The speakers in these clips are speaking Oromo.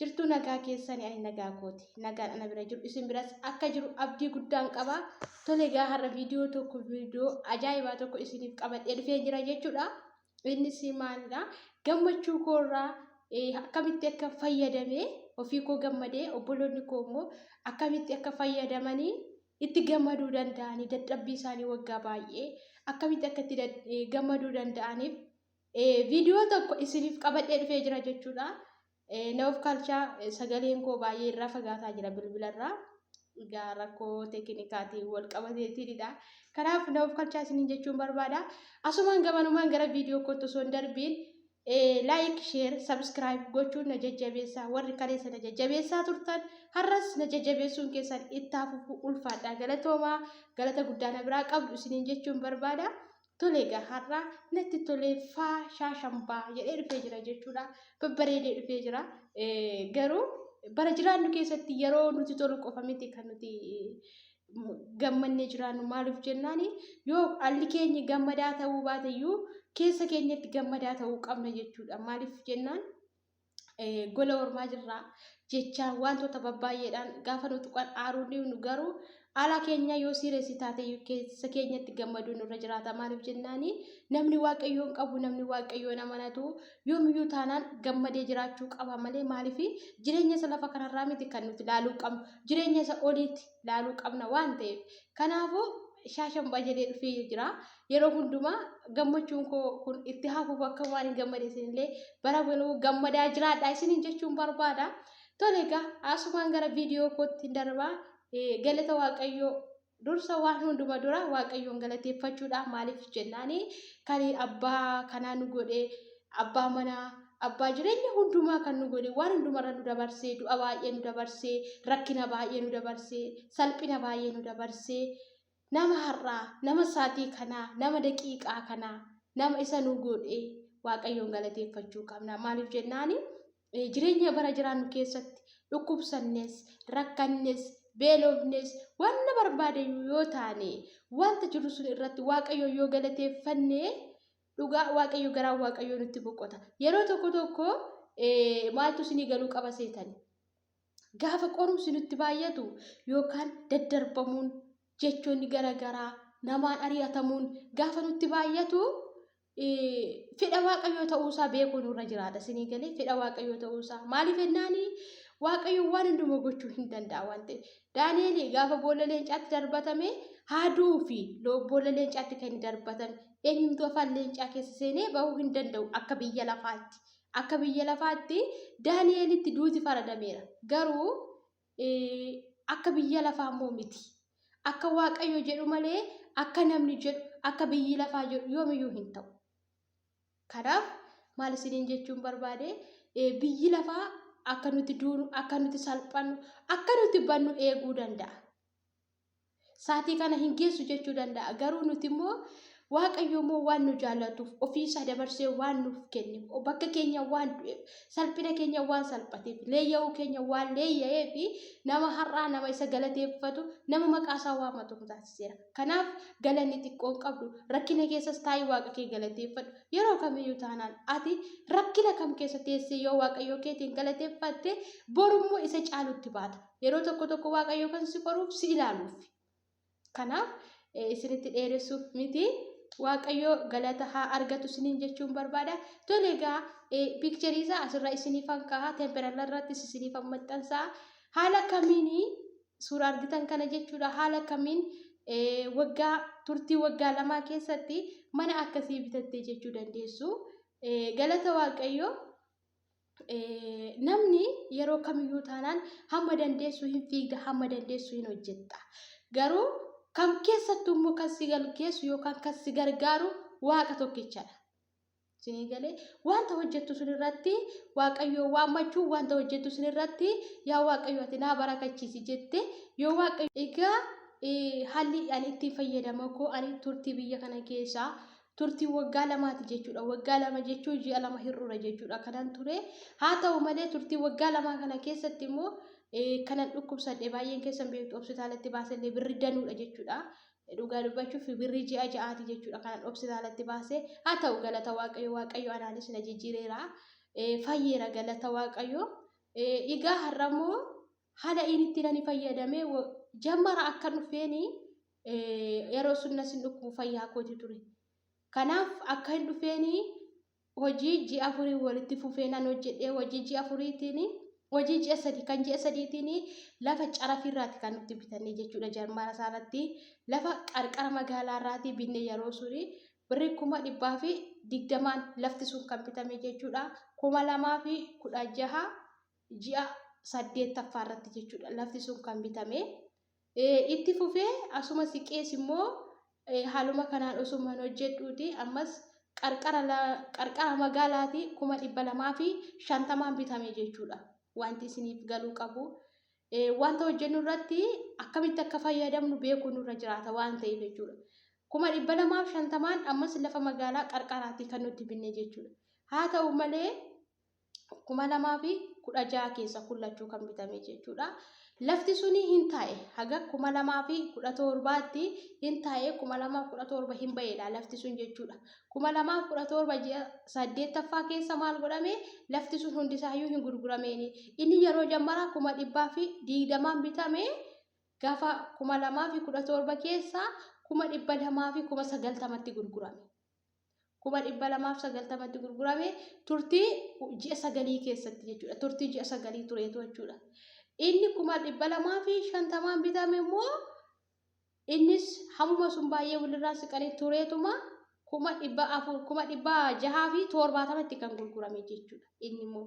Jirtuu nagaa keessani ani nagaa kooti nagaan ana bira jiru isin biras akka jiru abdii guddaan qaba tole egaa har'a viidiyoo tokko viidiyoo ajaa'ibaa tokko isiniif qabadhee dhufee jira jechuudha innis maalidha gammachuu koorraa akkamitti akka fayyadame ofii koo gammadee obboloonni koo immoo akkamitti akka fayyadamanii itti gammaduu danda'anii dadhabbii isaanii waggaa baay'ee akkamitti akka itti gammaduu danda'aniif viidiyoo tokko isiniif qabadhee dhufee jira jechuudha. Ee na of kalcha sagaleen koo baay'ee irraa fagaataa jira bilbila irraa. Egaa rakkoo tekinikaatiin wal qabateetiinidha. Kanaaf na of kalchaa isiniin jechuun barbaada. Asumaan gamanumaan gara viidiyoo kootti osoo hin darbiin laayik, sheer, sabskiraayib gochuun na jajjabeessaa warri kaleessa na jajjabeessaa turtan har'as na jajjabeessuun keessan itti hafuuf ulfaadha. Galatoomaa galata guddaa na biraa qabdu isiniin jechuun barbaada. Tole egaa har'a natti tolee faa shaashambaa jedhee dhufee jira jechuudha. Babbareedee dhufee jira. Garuu bara jiraannu keessatti yeroo nuti tolu qofa miti kan nuti gammannee jiraannu maaliif jennaan yoo alli keenya gammadaa ta'uu baateyyuu keessa keenyatti gammadaa ta'uu qabna jechuudha. Maaliif jennaan gola ormaa jirra jechaan wantoota babbaay'eedhaan gaafa nu tuqan aaruu dhiibnu garuu haala keenya yoo siireessi taate keessa keenyatti gammaduu nurra jiraata maaliif jennaani namni waaqayyoon qabu namni waaqayyoon amanatu yoomiyyuu taanaan gammadee jiraachuu qaba malee maaliif jireenya isa lafa kanarraa miti kan nuti laaluu qabnu jireenya isa oliitti laaluu qabna waan ta'eef kanaafuu shaashan bajedee dhufee jira yeroo hundumaa gammachuun koo kun itti hafuuf akka waan hin gammade isinillee bara baluu gammadaa jiraadha isiniin jechuun barbaada. Tole egaa asumaan gara viidiyoo kootti hin darbaa galata waaqayyoo dursa waan hunduma dura waaqayyoon galateeffachuudha maaliif jennaani kan abbaa kanaa nu godhe abbaa manaa abbaa jireenya hundumaa kan nu godhe waan hundumarra nu dabarsee du'a baay'ee nu dabarsee rakkina baay'ee nu dabarsee salphina baay'ee nu dabarsee Nama har'aa, nama saatii kanaa, nama daqiiqaa kanaa, nama isa nu godhe Waaqayyoon galateeffachuu qabna. Maaliif jennaani jireenya bara jiraannu keessatti dhukkubsannes, rakkannes, beelofnes, wanna barbaadayyuu yoo taane wanta jiru sun irratti Waaqayyoon yoo galateeffanne dhugaa Waaqayyo garaa Waaqayyoo nutti boqota. Yeroo tokko tokko maaltu isinii galuu qaba seetani? Gaafa qorumsi nutti baay'atu yookaan daddarbamuun jechoonni garagaraa namaan ari'atamuun gaafa nutti baay'atu fedha waaqayyoo ta'uusaa beekuu nurra jiraata isinii galee fedha waaqayyoo ta'uusaa maaliif jennaani waaqayyo waan hundumaa gochuu hin danda'a waan ta'eef daani'eel gaafa boolla leencaatti darbatame haaduu fi boolla leencaatti kan darbatame eenyumtuu afaan leencaa keessa seenee bahuu hin danda'u akka biyya lafaatti Akka biyya lafaatti Daani'elitti duuti faradameera. Garuu akka biyya lafaa immoo miti. Akka Waaqayyo jedhu malee akka namni jedhu, akka biyyi lafaa jedhu yoomiyyuu hin ta'u. Kanaaf maal isiniin jechuun barbaade biyyi lafaa akka nuti duunu, akka nuti salphannu, akka nuti bannu eeguu danda'a. Saatii kana hin geessu jechuu danda'a. Garuu nuti immoo Waaqayyo immoo waan nu jaallatuuf ofiisaa dabarsee waan nuuf kenneef bakka keenya waan du'eef salphina keenya waan salphateef leeyya'uu keenya waan leeyya'ee fi nama har'aa nama isa galateeffatu nama maqaa isaa waamatu nu taasiseera. Kanaaf galanni xiqqoon qabdu rakkina keessas taa'ii waaqa kee galateeffadhu yeroo kamiyyuu taanaan ati rakkina kam keessa teessee yoo waaqayyoo keetiin galateeffatte borummoo isa caalutti baata. Yeroo tokko tokko Waaqayyo kan si qoruuf si ilaaluuf. Kanaaf isinitti dheeressuuf miti. Waaqayyo galata haa argatu isiniin jechuun barbaada. Tole egaa piikcharii isaa asirra isiniifan kaa'a. Temperala irrattis isiniifan maxxansaa. Haala kamiin suura argitan kana jechuudha. Haala kamiin waggaa turtii waggaa lamaa keessatti mana akkasii bitattee jechuu dandeessu. Galata Waaqayyoo. namni yeroo kamiyyuu taanaan hamma dandeessu hin fiigda hamma dandeessu hin hojjetta garuu kam keessattuu immoo kan si galgeessu yookaan kan si gargaaru waaqa tokkichadha. Isinii galee wanta hojjettu sun irratti waaqayyoo waammachuu wanta hojjettu sun irratti yaa waaqayyo ati naa barakachiisi jette yoo waaqayyo egaa haalli ani ittiin fayyadama koo ani turtii biyya kana keessaa turtii waggaa lamaati jechuudha. Waggaa lama jechuun ji'a lama hir'uura jechuudha kanan ture. Haa ta'u malee turtii waggaa lamaa kana keessatti immoo kanan dhukkubsadhe baay'een keessan beektu hospitaalatti baasellee birri danuudha jechuudha. Dhugaa dubbachuuf birrii ji'a ja'aati jechuudha kanan hospitaalatti baase. Haa ta'u galata waaqayyo waaqayyo anaanis na jijjiireera. Fayyeera galata waaqayyo. Egaa har'a immoo hala in itti nani fayyadame jammara akka dhufeeni yeroo sunna sin dhukkubu fayyaa kooti ture kanaaf akka hin dhufeeni hojii ji afurii walitti fufee nan hojjedhee hojii ji afuriitiin hojii ji'a sadii kan ji'a sadiitiin lafa carafii irraati kan nutti bitannee jechuudha jarmaara isaa irratti lafa qarqara magaalaa irraati binne yeroo suni birri kuma dhibbaa fi digdamaan lafti sun kan bitame jechuudha kuma lamaa fi kudha jaha ji'a saddeettaffaa irratti jechuudha lafti sun kan bitame. Itti fufee asuma siqees immoo haaluma kanaan osumaan hojjedhuuti ammas qarqara magaalaatii kuma dhibba lamaa fi shantamaan bitame jechuudha. Wanti isiniif galuu qabu wanta hojjennu irratti akkamitti akka fayyadamnu beekuu nurra jiraata waan ta'eef jechuudha. Kuma dhibba lamaa fi shantamaan ammas lafa magaalaa qarqaraatii kan nuti binne jechuudha. Haa ta'u malee kuma lamaa fi kudha ja'a keessa kun lachuu kan bitame jechuudha. Lafti suni hin taa'e haga kuma lamaa fi kudha torbaatti hin taa'e kuma lamaaf kudha torba hin ba'eedha lafti sun jechuudha. Kuma lamaaf kudha torba ji'a saddeettaffaa keessa maal godhame lafti sun hundisaayyuu hin gurgurameeni. Inni yeroo jammaraa kuma dhibbaa fi digdamaan bitame gaafa kuma lamaa fi kudha torba keessa kuma dhibba lamaa fi kuma sagaltamatti gurgurame. kuma dhibba lamaaf sagaltamatti gurgurame turtii ji'a sagalii keessatti jechuudha. Turtii ji'a sagalii tureetu jechuudha. Inni kuma dhibba lamaa fi shantamaan bitame immoo innis hammuma sun baay'ee walirraa siqanii tureetuma kuma dhibba afur kuma dhibba jahaa fi torbaatamatti kan gurgurame jechuudha. Inni immoo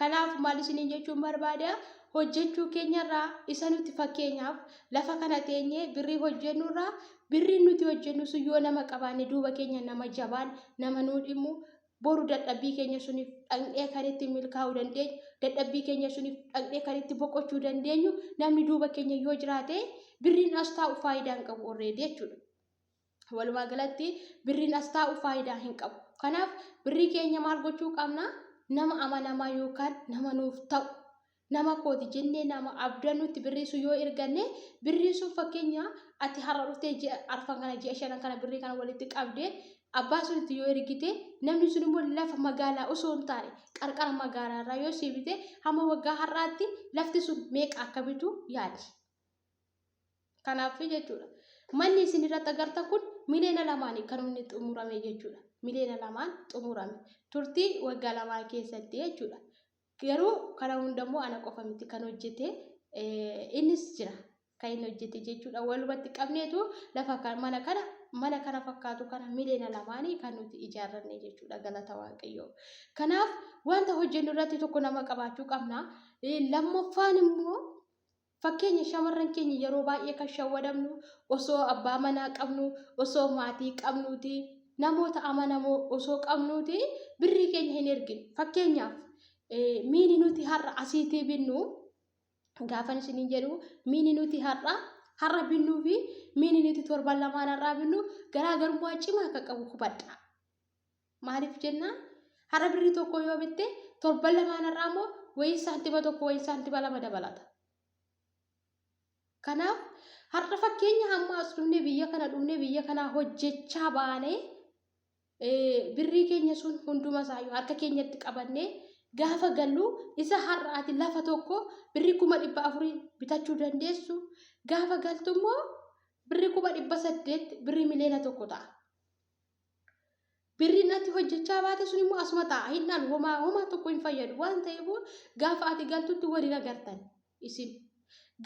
Kanaaf maal isiniin jechuun barbaada hojjechuu keenyarraa isa nuti fakkeenyaaf lafa kana teenyee birrii hojjennurraa birriin nuti hojjennu sun yoo nama qabaanne duuba keenya nama jabaan nama nuu dhimmu boru dadhabbii keenya suniif dhaqnee kan itti milkaa'uu dandeenyu dadhabbii keenya suniif dhaqnee kan itti boqochuu dandeenyu namni duuba keenya yoo jiraate birriin as taa'u faayidaa hin qabu orreedee jechuudha. Walumaa galatti birriin as taa'u faayidaa hin qabu. Kanaaf birrii keenya maal gochuu qabna? Nama amanamaa yookaan nama nuuf ta'u nama kooti jennee nama abdannutti birrii sun yoo erganne birriin sun fakkeenya ati har'a dhuftee ji'a arfan kana ji'a shanan kana birrii kana walitti qabdee abbaa sunitti yoo ergite namni sun immoo lafa magaalaa osoo hin taane qarqara magaalaa irraa yoo siibite hamma waggaa har'aatti lafti sun meeqa akka bitu yaadi. Kanaaf jechuudha. Manni isin irratti agarta kun miliyoona lamaan kan inni xumurame jechuudha. Miliyoona lamaan xumurame. Turtii waggaa lamaa keessatti jechuudha. Garuu kana hundammoo ana qofa miti kan hojjete innis jira. Kan inni hojjete jechuudha. Walumatti qabneetu lafa mana kana mana kana fakkaatu kana miliyoona lamaanii kan nuti ijaarranne jechuudha galata waaqayyoo. Kanaaf wanta hojjennu irratti tokko nama qabaachuu qabna. Lammaffaan immoo Fakkeenya, Shamarran keenya yeroo baay'ee kan shawwadamnu osoo abbaa manaa qabnuu, osoo maatii qabnuuti, namoota amanamoo osoo qabnuuti birrii keenya hin erginu. Fakkeenyaaf miini nuti har'a asiitii binnu gaafan isiniin jedhu miini nuti har'a har'a binnuu fi miini nuti torban lamaan har'aa binnu garaagarummaa cimaa akka qabu hubadha. Maaliif jennaan har'a birrii tokko yoo bitte torban lamaan har'aa immoo wayii saantima tokko wayii saantima lama dabalata. Kanaaf har'a fakkeenya hamma as dhumne biyya kana dhumne biyya kana hojjechaa baane birrii keenya sun hunduma isaayyuu harka keenyatti qabanne gaafa gallu isa har'a ati lafa tokko birrii kuma dhibba afurii bitachuu dandeessu gaafa galtu immoo birrii kuma dhibba saddeet birrii miliyoona tokko ta'a. birriin ati hojjechaa baate sun immoo asuma ta'a hin dhalu homaa homaa tokko hin fayyadu waan ta'eef gaafa ati galtutti waliin agartan isin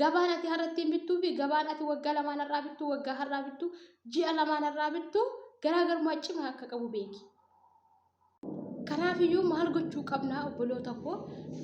gabaan ati har'attiin bittuu fi gabaan ati waggaa lamaan har'aa bittu waggaa har'aa bittu ji'a lamaan har'aa bittu garaagarummaa cimaa akka qabu beeki. Kanaafiyyuu maal gochuu qabna obboloota koo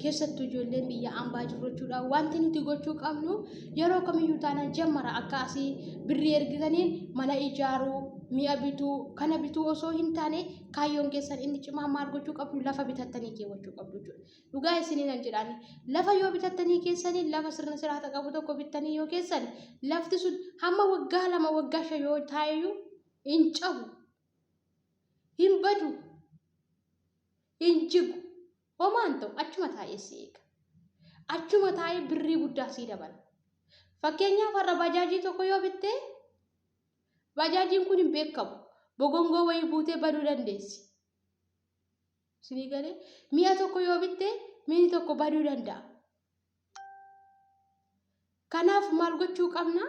keessattuu ijoolleen biyya ambaa jirru jechuudha. Wanti nuti gochuu qabnu yeroo kamiyyuu taana jammara akka asii birrii ergitaniin mana ijaaruu, mi'a bituu, kana bituu osoo hin taane kaayyoon keessan inni cimaa maal gochuu qabdu lafa bitattanii keewwachuu qabdu jechuudha. Dhugaa isiniin hin jedhaan lafa yoo bitattanii keessanii lafa sirna siraata qabu tokko bittanii yoo keessan lafti sun hamma waggaa lama waggaa shan yoo taa'eyyuu hin cabu. hin badu hin jigu homaan ta'u achuma taa'ee si eega achuma taa'ee birrii guddaa sii dabala fakkeenyaaf har'a bajaajii tokko yoo bittee bajaajiin kun hin beekamu bogongoo wayii buutee baduu dandeessi sinii galee mi'a tokko yoo bittee miini tokko baduu danda'a Kanaaf maal gochuu qabna?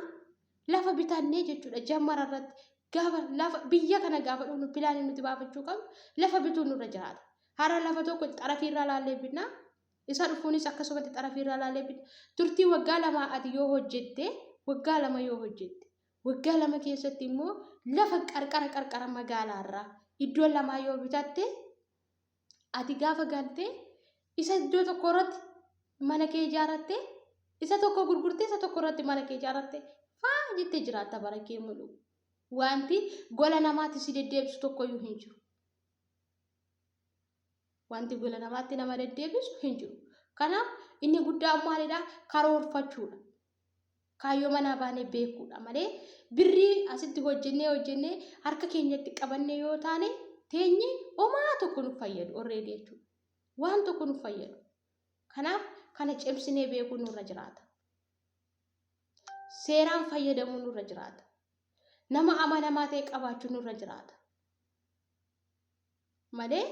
Lafa bitannee jechuudha jammara irratti gaafa lafa biyya kana gaafa dhufnu pilaanii nuti baafachuu qabnu lafa bituun nurra jiraata. Hara lafa tokko xarafii irraa laallee bitna. Isa dhufuunis akkasumatti xarafii irraa laallee bitna. Turtii waggaa lamaa ati yoo hojjette waggaa lama yoo hojjette waggaa lama keessatti immoo lafa qarqara qarqara magaalaa irraa iddoo lamaa yoo bitatte Ati gaafa galtee isa iddoo tokko irratti mana kee ijaarratte isa tokko gurgurtee isa tokko irratti mana kee ijaarratte faa jettee jiraatta bara kee mulu. Wanti gola namaatti si deddeebisu tokkoyyuu hin jiru. Wanti gola namaatti nama deddeebisu hin jiru. Kanaaf inni guddaan maalidha? Karoorfachuudha. Kaayyoo manaa baanee beekuudha malee birrii asitti hojjennee hojjennee harka keenyatti qabannee yoo taane teenye homaa tokko nu fayyadu orreedii jechuudha. Waan tokko nu fayyadu. Kanaaf kana cimsinee beekuu nurra jiraata. Seeraan fayyadamuu nurra jiraata. Nama amanamaa ta'e qabaachuu nurra jiraata. malee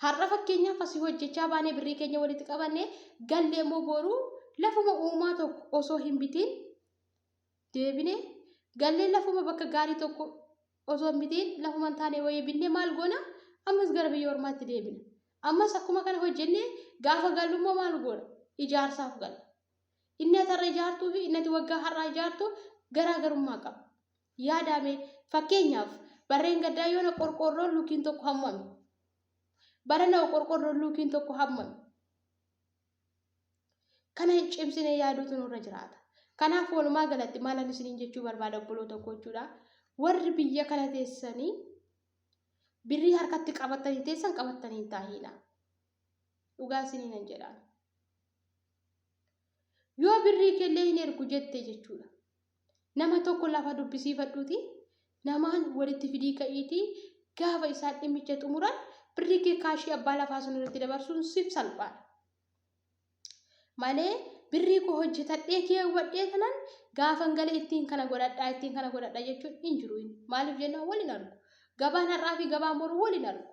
har'a fakkeenyaaf asii hojjechaa baanee birrii keenya walitti qabanne gallee immoo booruu lafuma uumaa tokko osoo hin bitiin deebine gallee lafuma bakka gaarii tokko osoo hin bitiin lafuma hin taane wayii binne maal goona ammas gara biyya ormaatti deebina ammas akkuma kana hojjenne gaafa gallu immoo maal goona ijaarsaaf galla inni atarra ijaartuu fi inni ati waggaa har'aa ijaartu garaagarummaa qaba Yaadaame fakkeenyaaf barreen gaddaa yoona qorqoorroon luukiin tokko hammame. Barana hoo qorqoorroon luukiin tokko hammame. Kana cimsinee yaaduutu nurra jiraata. Kanaaf walumaa galatti maalan isiniin jechuu barbaada obboloota koo jechuudha. Warri biyya kana teessanii birrii harkatti qabatanii teessan qabatanii hin taahiina. Dhugaa isiniin hin jedhaan. Yoo birrii kellee hin ergu jette jechuudha. Nama tokko lafa dubbisiifadhuutii namaan walitti fidii ka'iitii gaafa isaan dhimmicha xumuran birrii kee kaashii abbaa lafaa sun irratti dabarsuun siif salphaadha. Malee birrii koo hojjetadhee keewwadhee kanan gaafan gale ittiin kana godhadhaa ittiin kana godhadhaa jechuun hin jiru. Maaliif jennaan waliin argu. Gabaan har'aa fi gabaan boru waliin argu.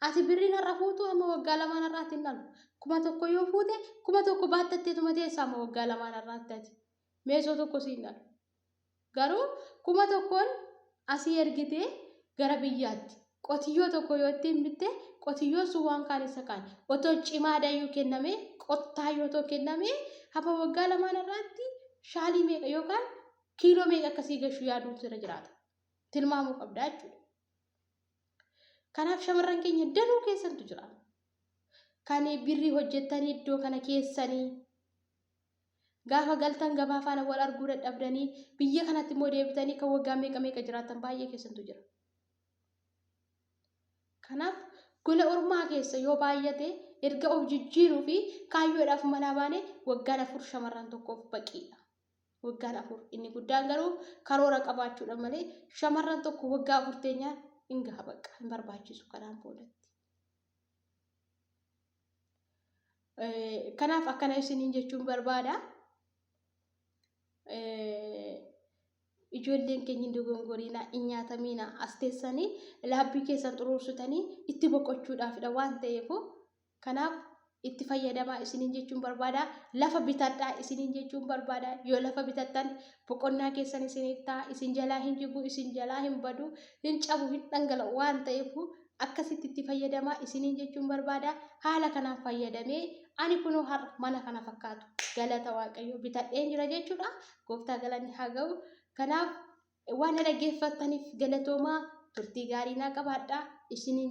Ati birriin har'a fuutu amma waggaa lamaan har'aatti hin dhalu. Kuma tokko yoo fuute kuma tokko baattatteetuma teessa amma waggaa lamaan har'aatti ati. Meesoo tokko siin dhalu. Garuu kuma tokkoon asii ergitee gara biyyaatti qotiyyoo tokko yoo ittiin bitte qotiyyoon sun waan kaan isa kaan otoo cimaa dayyuu kenname qottaa yoo otoo kenname hafa waggaa lamaan irraatti shaalii meeqa yookaan kiiloo meeqa akkasii gashuu yaaduun sirra jiraata. Tilmaamuu qabdaa jechuudha. Kanaaf shamarran keenya danuu keessantu jira. Kan birrii hojjettanii iddoo kana keessanii gaafa galtan gabaa faana wal arguu dadhabdanii biyya kanatti immoo deebitanii kan waggaa meeqa meeqa jiraatan baay'ee keessantu jira. Kanaaf gola ormaa keessa yoo baay'ate erga of jijjiiruu fi kaayyoodhaaf manaa baane waggaan afur shamarran tokkoof baqiidha. Waggaan afur inni guddaan garuu karoora qabaachuudha malee shamarran tokko waggaa afur teenyaa hin gaha bakka hin barbaachisu kanaan boodatti. Kanaaf akkana isiniin jechuun barbaada. Ijoolleen keenya hin dogongoriina, hin nyaatamiina, as teessanii laabbii keessan xuruursitanii itti boqochuudhaafidha waan ta'eef Kanaaf itti fayyadamaa isiniin jechuun barbaada. Lafa bitadhaa isiniin jechuun barbaada. Yoo lafa bitattan boqonnaa keessan isiniif ta'a. Isin jalaa hin jigu, isin jalaa hin badu, hin cabu, hin dhangala'u waan ta'eef akkasitti itti fayyadamaa isiniin jechuun barbaada. Haala kanaan fayyadamee ani kunoo har'a mana kana fakkaatu galata Waaqayyoo bitadheen jira jechuudha. Gooftaa galanni haa ga'u. Kanaaf waan na dhaggeeffattaniif galatoomaa turtii gaarii naa qabaadhaa isiniin